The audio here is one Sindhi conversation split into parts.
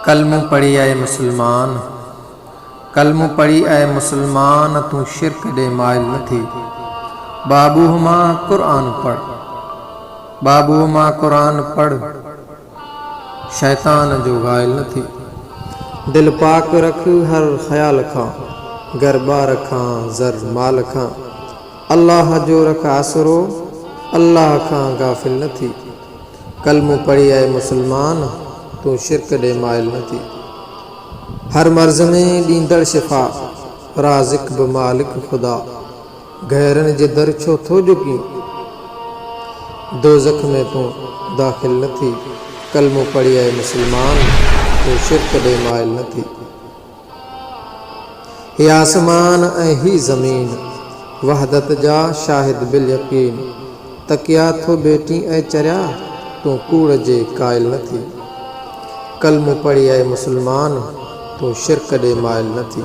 ڪلمو پڙهي اي مسلمان! ڪلمو پڙهي اي مسلمان! تون شرڪ ڏي مائل نه ٿي. بابوء مان قرآن پڙهه. بابوء مان قرآن پڙهه. شيطان جو غائل نه ٿي. دل پاڪ رک هر خيال کان. گهر ٻار کان زر مال کان. الله جو رک آسرو. الله کان غافل نه ٿي. ڪلمو پڙهي اي مسلمان. تون شرڪ ڏي مائل نه ٿي. هر مرض ۾ ڏيندڙ شفا. رازق به مالڪ خدا. گهرن جي در ڇو ٿو جهڪين. دوزخ ۾ تون داخل نه ٿي. ڪلمو پڙهي اي مسلمان تون شرڪ ڏي مائل نه ٿي. هي آسمان ۽ هي زمين وحدت جا شاهد باليقين تڪيا ٿو ڀيٽين اي چريا تون ڪوڙ جي قائل نه ٿي. ڪلمو پڙهي اي مسلمان تون شرڪ ڏي مائل نه ٿي.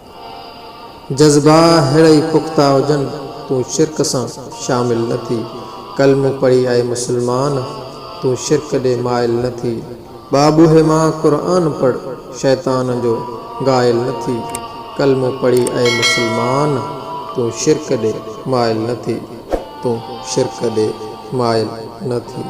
جذبا ههڙا ئي پختا هجن تون شرڪ سان شامل نه ٿي ڪلمو پڙهي اي مسلمان تون شرڪ ڏي مائل نه ٿي بابوهي مان قرآن پڙهه شيطان جو گائل نه ٿي ڪلمو پڙهي اي مسلمان تون شرڪ ڏي مائل نه ٿي تون شرڪ ڏي مائل نه ٿي.